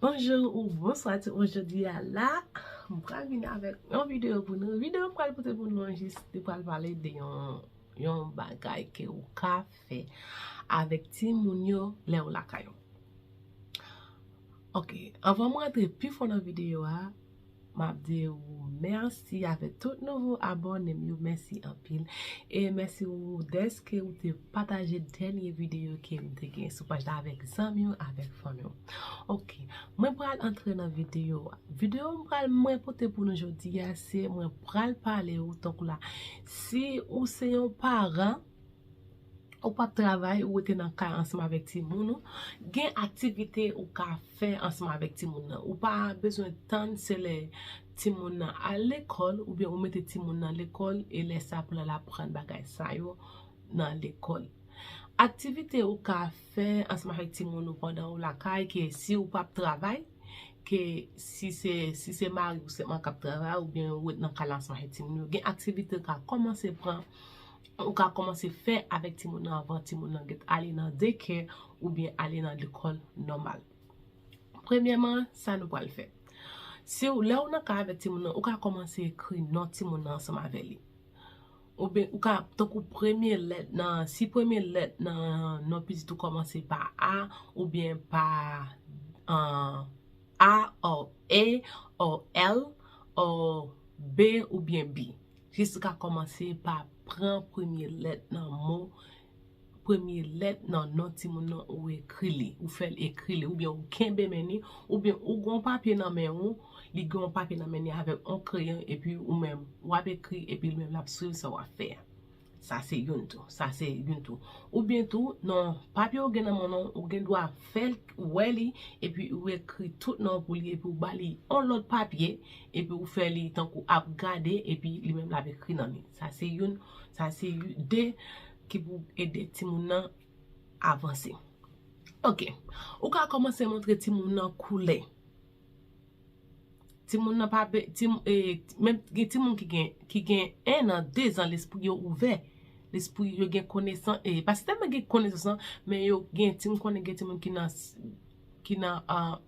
Bonjou ou bonswa tout moun jodi a la m pral vin avèk yon videyo pou nou videyo m pral pote pou nou an jis li pral pale de yon yon bagay ke ou ka fè avèk ti moun yo lè ou lakay ou ok anvan m rantre pi fon nan videyo a Map di ou merci avek tout nouvo abònem yo merci anpil e merci ou deske ou te pataje dènye video kem te gen sou paj la avek zanmi ou avek fanmi ou ok mwen pral antre nan video a video mwen pral mwen pote pou nou jodi a se mwen pral pale ou tankou la si ou se yon paran Ou pap travay, ou rete nan kay ansanm avèk timoun ou, gen aktivite ou ka fè ansanm avèk timoun nan. Ou pa bezwen tann se lè timoun nan al lekòl oubyen ou mete timoun nan lekòl e lè sa pou l al aprann bagay sa yo nan lekòl. Aktivite ou ka fè ansanm avèk timoun ou pandan ou lakay ke si ou pap travay, ke si se mari ou sèlman k ap travay oubyen ou ret nan kay la ansanm avèk timoun yo, gen aktivite ou ka kòmanse pran. Ou ka kòmanse fè avèk timoun nan anvan timoun nan gèt ale nan dekè oubyen ale nan lekòl nòmal. Premyèman, sa nou pral fè. Si ou, lè ou nan kay avèk timoun nan, ou ka kòmanse ekri non timoun nan ansanm avè li. Oubyen ou ka, tankou premye lèt nan, si premye lèt nan non pitit ou kòmanse pa A oubyen pa A or A or L or B oubyen B. Jessica kòmanse pa pran premye lèt nan mo premye lèt nan non timoun nan ou ekri li ou fè l ekri li oubyen ou kenbe men li oubyen ou gen yon papye nan men ou li gen yon papye nan men li avèk yon kreyon epi ou menm w ap ekri epi li menm l ap swiv sa w ap fè a Sa se youn tou. Sa se youn tou. Ou byen tou, nan papye ou gen nan men w, ou gen dwa fè l wè li, epi ou ekri tout non w pou li, epi ou ba li yon lòt papye, epi ou fè li tankou ap gade, epi li menm l ap ekri nan li. Sa se youn. Sa se de ki pou ede timoun nan avanse. Ok. Ou ka kòmanse montre timoun nan koulè. Timoun nan pa be, ti moun ee, menm gen timoun ki gen, ki gen 1 nan, 2 zan lespri yo ouvè, lespri yo gen konesan ee, pa se tèlman gen konesans nan, men yo gen ti, m konnen gen timoun ki nan, ki nan an,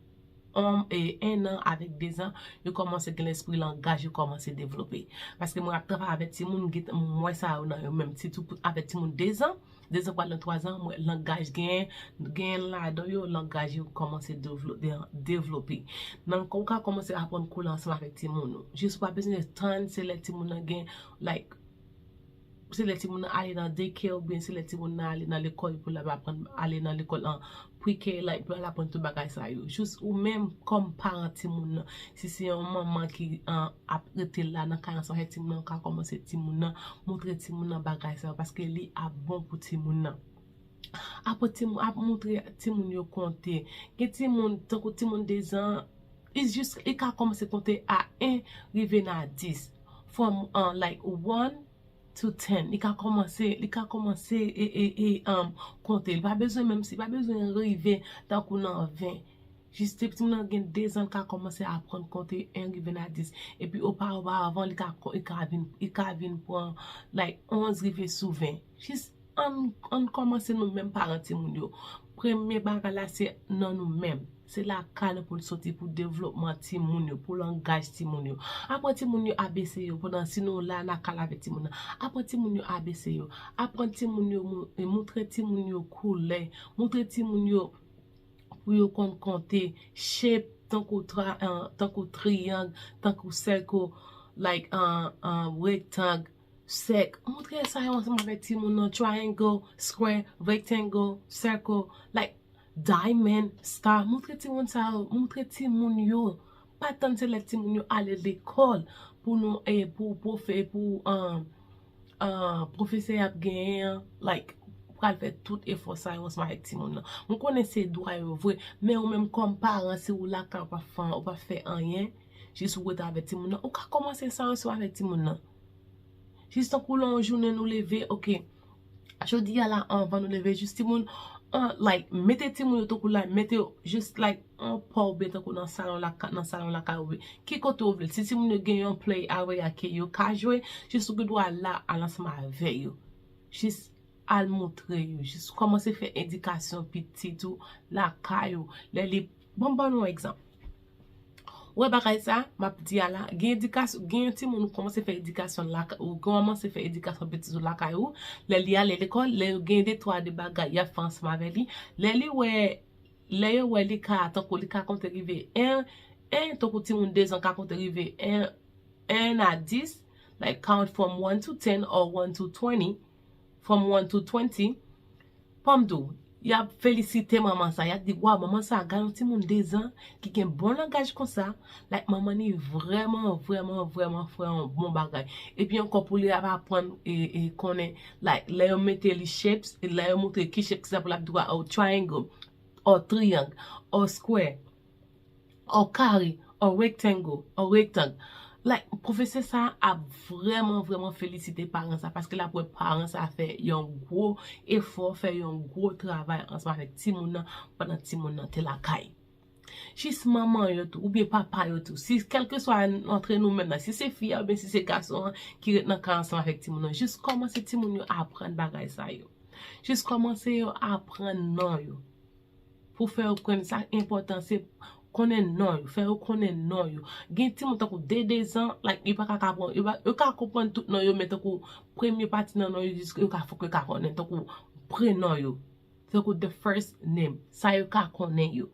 an ee, 1 nan avèk 2 zan, yo kòmanse gen lespri langaj yo kòmanse devlope. Paske mwen ap travay avèk timoun, m gen tan, m wè sa yo nan yo menm, sitou avèk timoun 2 zan. 2 zan pou al nan 3 zan, mwen langaj gen, gen ladan yo langaj yo kòmanse devlope. Nan ou ka kòmanse aprann koule ansanm avèk timoun ou. Jis ou pa bezwen tann se lè timoun nan gen like se lè timoun nan ale nan daycare oubyen se lè timoun nan ale nan lekòl pou l ap aprann ale nan lekòl an Pre K la li pral aprann tout bagay sa yo. Jis ou menm kòm paran timoun nan, si se yon manman ki ap rete la nan kay ansanm avèk timoun nan, ou ka kòmanse timoun nan, montre timoun nan bagay sa yo paske li ap bon pou timoun nan. Aprann timoun, ap montre timoun yo konte. Gen timoun, tankou timoun dezan, li jis li ka kòmanse konte a 1 rive nan a 10. From like one to ten li ka komanse li ka komanse e konte li pa bezwen menm si pa bezwen rive tankou nan ven jis depi timoun nan gen dezan li ka komanse aprann konte en rive nan dis epi opa opa avan li ka vin li ka vin pran like onz rive sou ven jis Ann kòmanse nou menm paran timoun yo. Premye bagay la se nan nou menm. Se lakay nou pou l soti pou devlopman timoun yo, pou langaj timoun yo. Aprann timoun yo ABC yo pandan si nou la nan kay la avèk timoun nan. Aprann timoun yo ABC yo. Aprann timoun yo, moutre timoun yo koulè. Moutre timoun yo pou yo konn konte shape tankou triyang, tankou sèkl, like, rectang. Sèk, Montre sa yo ansanm avèk timoun nan, triangle, square, rectangle, circle, like, diamond, star, montre timoun sa yo, montre timoun yo, pa tann se lè timoun yo ale lekòl pou nou e pou pwofe pou pwofesè y ap genyen an, like, pral fè tout efò sa yo ansanm avèk timoun nan. Mwen konnen se dwa yo vre, men ou menm kòm paran si ou lakay ou pa fè anyen. Jis ou rete avèk timoun nan. Ou ka kòmanse sa yon swa avèk timoun nan. Jis tankou lè yon jounen nou leve, ok, jodi a la anvan nou leve jis timoun, an, like, mete timoun yo tankou la, mete yo jis like an pa oubyen tankou nan salon lakay, nan salon lakay ou, ki kote ou vle. Si timoun yo gen yon play area ke yo ka jwe, jis ou gen dwa al la, al ansanm avè yo. Jis al montre yo, jis kòmanse fè edikasyon pitit ou lakay ou. Lè li Bon m ban nou yon egzanp. Ou wè bagay sa a m ap di a la, gen edikasyon, gen yon timoun ou kòmanse fè edikasyon l lakay, ou kòmanse fè edikasyon pitit ou lakay ou, lè li ale lekòl, lè yo gen de twa de bagay y ap fè ansanm avè li, lè li wè, lè yo wè li ka, tankou li ka konte rive 1, 1, tankou timoun dezan ka konte rive 1, 1 a 10, like count from one to ten or one to twenty. from one to twenty Pam tou Yap felisite manman sa Yap di waw manman sa gad yon timoun 2 zan ki gen bon langaj konsa like manman ni vrèman vrèman vrèman fè yon bon bagay epi ankò pou li ap aprann e konnen like lè yo mete li shapes lè yo moutre ki shape sa pou lap di waw triangle or triangle or square An kare, an rectangle, an rektang. Like, pwofesè sa a ap vrèman vrèman felisite paran sa a paske l ap wè paran sa a fè yon gwo efò, fè yon gwo travay ansanm avèk timoun nan pandan timoun nan te lakay. Jis manman yo tou oubyen papa yo tou, si kèlkeswa antre nou menm la, si se fi a oubyen si se gason an ki ret nan kay ansanm avèk timoun nan, jis kòmanse timoun yo aprann bagay sa yo. Jis kòmanse yo aprann non yo. Pou fè yo knprann sa enpòtan se konnen non yo, fè yo konnen non yo. Gen timoun tankou de dezan, like yo paka ka pran, yo ka konprann tout non yo men tankou premye pati nan non yo jis yo ka fòk yo ka konnen tankou prenon yo, tankou the first name, sa yo ka konnen yo.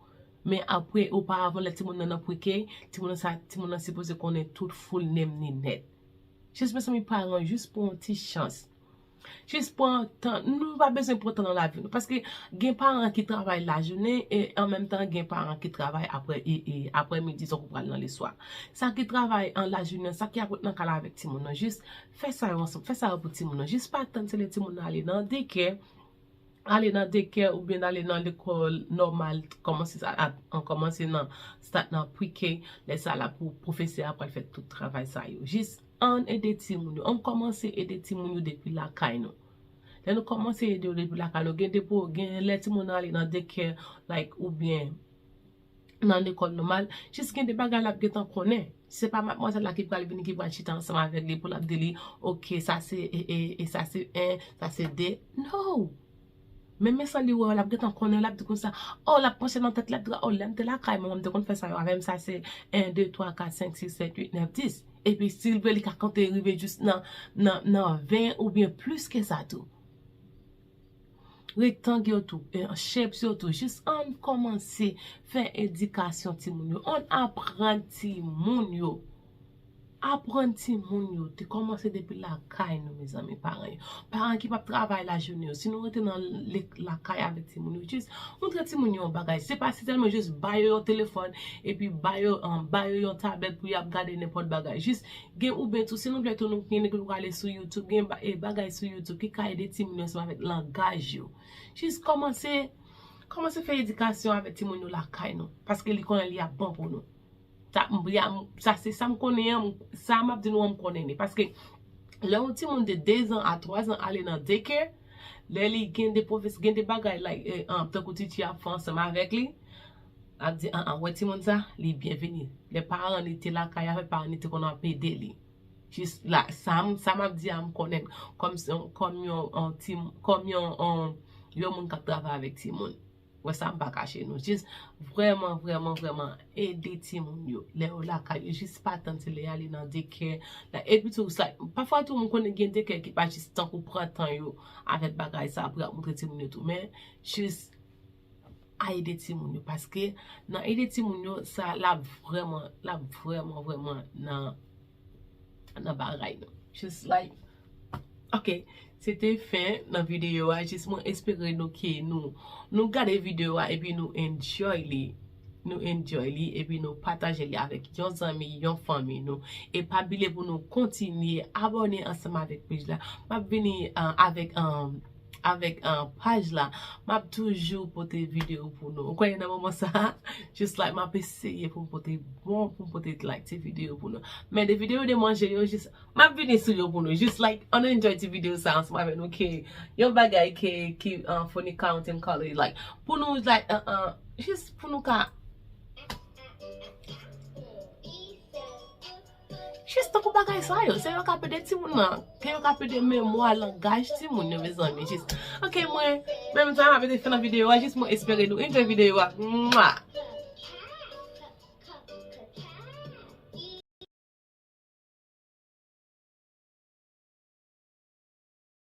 Men apre oparavan lè timoun nan nan pre-K, timoun nan sa, timoun nan sipoze konnen tout full name ni nèt. Jis mezanmi paran jis pran yon ti chans. Jis pran tan, nou pa bezwen pran tan nan lavi nou. Paske gen paran ki travay lajounen e an menm tan gen paran ki travay apre midi tankou pral nan leswa. Sa ki travay an lajounen, sa ki ap ret nan kay la avèk timoun nan, jis fè sa yo ansanm, fè sa yo pou timoun nan. Jis pa tann se lè timoun nan ale nan dekè. Ale nan dekè oubyen n ale nan lekòl nòmal kòmanse sa a an kòmanse nan start nan pre-k lè sa la pou pwofesè a pral fè tout travay sa yo jis ann ede timoun yo ann kòmanse ede timoun yo depi lakay nou lè nou kòmanse ede yo depi lakay nou gen de pou gen lè timoun nan ale nan dekè like oubyen nan lekòl nòmal, jis gen de bagay l ap gentan konnen. Se pa madmwazèl la ki pral vini, ki pral chita ansanm avèk li pou l ap di li, ok, sa se 1, sa se 2. No! Menmen san li wè w, l ap gentan konnen, l ap di konsa, o, l ap panche nan tèt li, l ap di, o, lè m te lakay manman m, m te konn fè sa yo avè m, sa se 1, 2, 3, 4, 5, 6, 7, 8, 9, 10. Epi si l vle, li ka konte rive jis nan 20 oubyen plis ke sa tou. Rektang yo tou, shapes yo tou. Jis ann kòmanse fè edikasyon timoun yo. Ann aprann timoun yo. Aprann timoun yo. Te kòmanse depi lakay nou mezanmi paran yo. Paran ki pap travay lajounen yo. Si nou rete nan lakay avèk timoun yo. Jis montre timoun yo yon bagay. Se pa sitèlman jis ba yo yon telefòn. Epi ba yo yon tablet pou yap gade nenpòt bagay. Jis Gen oube tou si nou vle tou nou gen nèg ki pou ale sou youtube gen bagay sou youtube ki ka ede timoun yo ansanm avèk langaj yo jis kòmanse kòmanse fè edikasyon avèk timoun yo lakay nou paske li konnen li ap bon pou nou sa se sam konnen an sa map di nou an m konnen li paske lè yon timoun de 2 zan a 3 zan ale nan deke lè li gen de pwofesè gen de bagay like tankou titi ap fè ansanm avèk li Lap di aa ou wè timoun sa li byen vini lè paran li te lakay avèl paran li te konn ap ede li jis la sa map di a m konnen kòm yon moun kap travay avèk timoun wè sa m pa kache nou jis vrèman vrèman vrèman ede timoun yo lè yo lakay yo jis pa tann se lè y ale nan dekè epi tou sa pafwa tou m konnen gen dekè ki pa jis tankou pran tan yo avèk bagay sa pou y ap montre timoun yo tou men jis a ede timoun yo paske nan ede timoun yo sa lap vrèman lap vrèman vrèman nan nan bagay nou jis like ok se te fen nan videyo a jis mwen espere nou ke nou nou gade videyo a epi nou enjoy li nou enjoy li epi nou pataje li avèk yon zanmi yon fanmi nou e pa bliye pou nou kontinye abòne ansanm avèk pej la map vini avèk Avèk paj la map toujou pote video pou nou. Ou kwè nan moman sa a? Just like map eseye pou m pote bon pou m pote like ti video pou nou. Men de video de manje yo just map vini sou yo pou nou. Just like annou enjoy ti video sa ansanm avèk nou ke yon bagay ke ki funny count and color like pou nou like just pou nou ka Jis tankou bagay sa yo, se yo kap ede timoun lan, se yo kap ede memwa, langaj timoun yo mezanmi jis. Ok mwen, mwen menm sa map ede fè nan videyo a jis mwen espere nou enjoy videyo a Mwah.